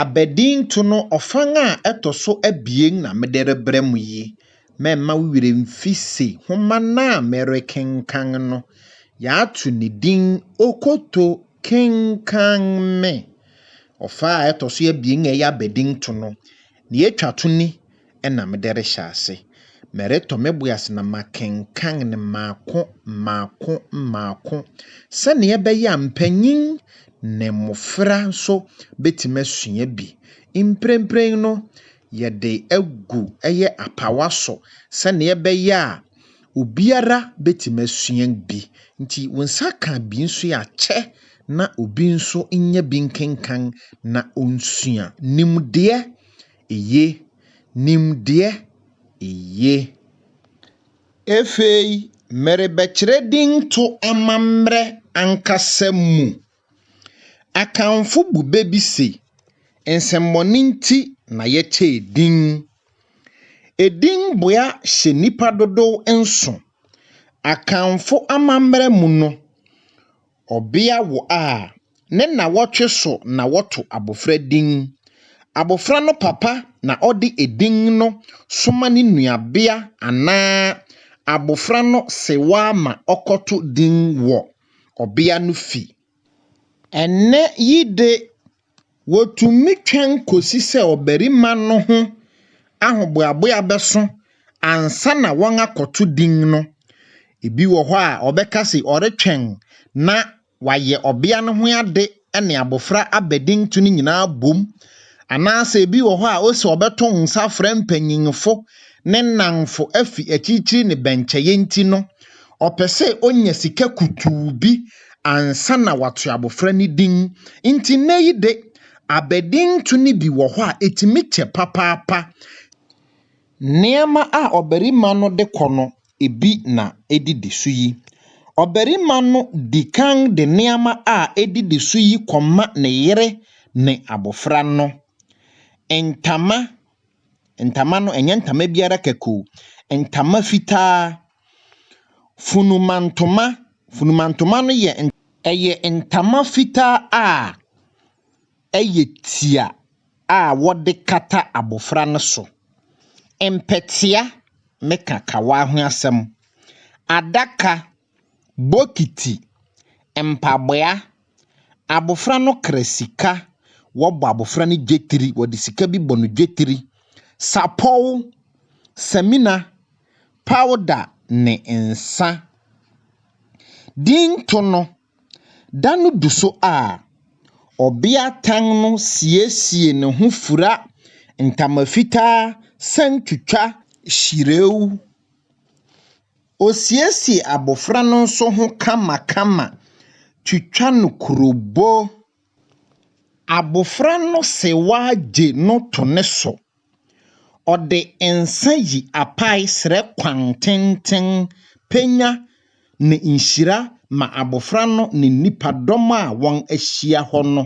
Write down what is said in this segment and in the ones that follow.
Abadinto no ɔfã a ɛtɔ so abien na mede rebrɛ mo yi, mɛmma wo werɛ mfi se nhoma no a merekenkan no, yɛato ne din Okoto Kenkan Me. Ɔfã a ɛtɔ so abien a ɛyɛ Abadinto no, nea etwa to ni, na mede rehyɛ ase. Meretɔ me bo ase na makenkan no mmaako mmaako mmaako sɛnea ɛbɛyɛ a mpanyin ne mmofra nso betumi asua bi. Mprempren no, yɛde agu ɛyɛ apawa so sɛnea ɛbɛyɛ a obiara betumi asua bi. Nti wo nsa ka bi nso a, kyɛ na obi nso nya bi nkenkan na onsua. Nimdeɛ Eye. Nimdeɛ, Eye. Afei merebɛkyerɛ dinto amammerɛ ankasa mu. Akanfo bu bɛ bi se, Nsɛmmɔne nti na yɛkyɛɛ din. Edin boa hyɛ nnipa dodow nso. Akanfo amammerɛ mu no, ɔbea wo a, Ne nnawɔtwe so na wɔto abofra din. Abofra no papa na ɔde edin no soma ne nuabea anaa abofra no sewaa ma ɔkɔto din wɔ ɔbea no fi. Ɛnnɛ yi de, wotumi twɛn kosi sɛ ɔbarima no ho ahoboaboa bɛso ansa na wɔakɔto din no. Ebi wɔ hɔ a, ɔbɛka se ɔretwɛn na wɔayɛ ɔbea no ho ade ne abofra abadinto no nyinaa bom, anaasɛ ebi wɔ hɔ a ose ɔbɛto nsa afrɛ mpanyimfo, ne nnamfo afi akyirikyiri ne bɛnkyɛe nti no, ɔpɛ sɛ onya sika kutuu bi ansa na wato abofra no din. Enti nnɛyi de, abadinto no bi wɔ hɔ a etumi kyɛ papaapa. Nneɛma a ɔbarima no de kɔ no bi na edidi so yi. Ɔbarima no di kan de nneɛma a edidi so yi kɔma ne yere ne abofra no. Ntama, ntama no ɛnyɛ ntama biara kɛkɛ o. Ntama fitaa, funumantoma, funumantoma no yɛ ɛyɛ ntama fitaa a yɛ tia a wɔde kata abofra no so, mpɛtea ne kakawa ho asɛm, adaka, bokiti, mpaboa, abofra no kra sika, wɔbɔ abofra no dwetiri, wɔde sika bi bɔ no dwetiri, sapɔw, samina, pawda ne nsa. Dinto no. Da no du so a, ɔbeatan no siesie ne ho fura ntama fitaa san twitwa hyirɛw. Osiesie abofra no nso ho kamakama twitwa no kurobo. Abofra no sewa gye no to ne so. Ɔde nsa yi apae srɛ kwan tenten, pɛnya, ne nhyira ma abofra no ne nnipadɔm a wɔahyia hɔ no.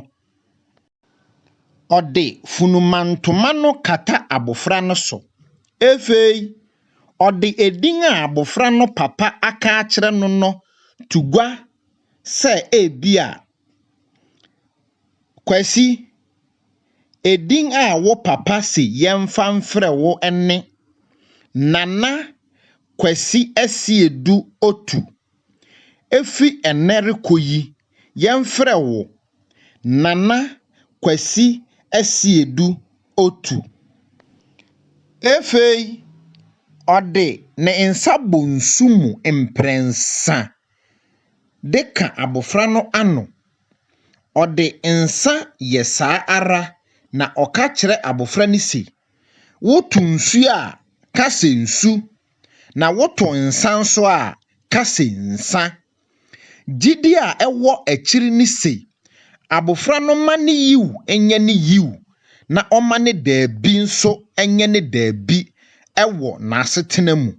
Ɔde funumantoma no kata abofra no so. Afei, ɔde edin a abofra no papa aka akyerɛ no no to gua sɛ ebia Kwasi, edin a wo papa se yɛmfa mfrɛ wo ne Nana Kwasi Asiedu Otu. Efi ɛnnɛ rekɔ yi, yɛmfrɛ wo Nana Kwasi Asiedu Otu. Afei ɔde ne nsa bɔ nsu mu mprɛnsa. de ka abofra no ano. Ɔde nsa yɛ saa ara na ɔka kyerɛ abofra no se, Woto nsu a, ka sɛ nsu, na woto nsa nso a, ka sɛ nsa. Gyidi a ɛwɔ akyiri ne se, abofra no mma ne yiw nyɛ ne yiw na ɔmma ne dabi nso nyɛ ne dabi wɔ n'asetena mu.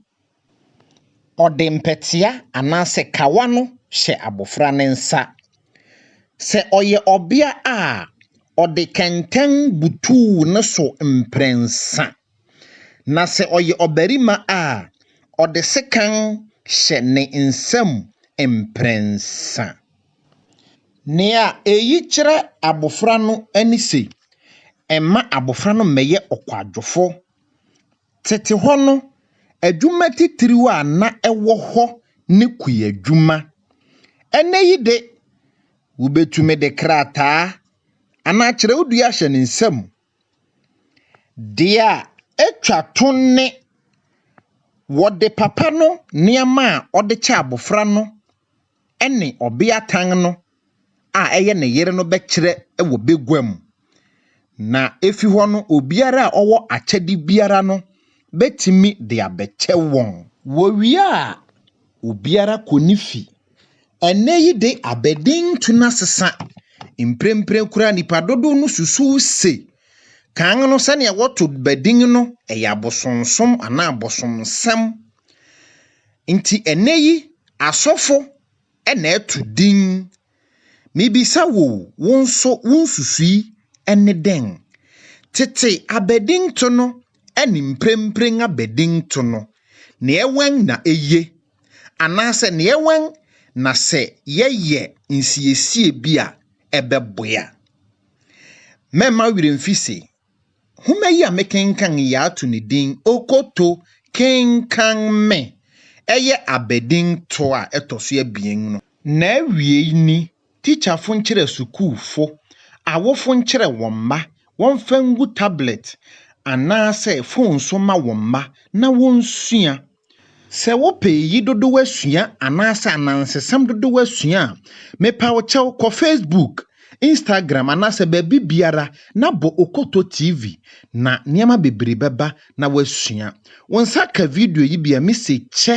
Ɔde mpɛtea anaasɛ kawa no hyɛ abofra no nsa. Sɛ ɔyɛ ɔbea a, ɔde kɛntɛn butuw ne so mprɛnsa, na sɛ ɔyɛ ɔbarima a, ɔde sekan hyɛ ne nsam mprɛnsa. Nea eyi kyerɛ abofra no ne se, mma abofra no mmɛyɛ ɔkwadwofo Tete hɔ no, adwuma titiriw a na ɛwɔ hɔ ne kuadwuma. Ɛnnɛyi de, wubetumi de krataa anaa kyerɛwdua ahyɛ ne nsam. Deɛ etwa to ne, wɔde papa no nneɛma a ɔde kyɛ abofra no ne ɔbeatan no a ɛyɛ ne yere no bɛkyerɛ wɔ bagua mu. Na efi hɔ no, obiara a ɔwɔ akyɛde biara no betumi de abɛkyɛ wɔn. Wowie a, obiara kɔ ne fi. Ɛnnɛ yi de, abɛden tu na sesa. Mprempren koraa nnipa dodow no susuw se, kan no sɛnea wɔto bɛ din no yɛ abosonsom anaa abosonsɛm. Nti ɛnnɛ yi asɔfo na ɛto din. Mibisa wo o, wo nso wo nsusui ne dɛn? Tete abadinto no ne mprempren abadinto no, nea wɛn na eye? Anaasɛ nea wɛn na sɛ yɛyɛ nsiesie bi a ɛbɛboa? Mɛmma wo werɛ mfi se, Nhoma yi a mekenkan yi yɛato ne din Okoto, Kenkan Me! Ɛyɛ abadin toa a ɛtɔ so abien no. N'awiei ni, Tikyafo nkyerɛ sukuufo, awofo nkyerɛ wɔn mma wɔmfa ngu tablɛt anaasɛ fon so mma wɔn mma na wonsua. Sɛ wopɛ eyi dodow asua anaasɛ anansesɛm dodow asua a, mepa wo kyɛw kɔ Facebook, Instagram anaasɛ baabi biara na bɔ Okoto TV na nneɛma bebree bɛba na woasua. Wo nsa ka video yi bi a, mise kyɛ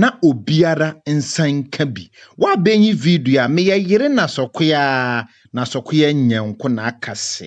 na obiara nsa nka bi. Woabenyi video a, meyɛ yere Nasɔkoyaa, Nasɔkoyaa Nyɛnko na aka se.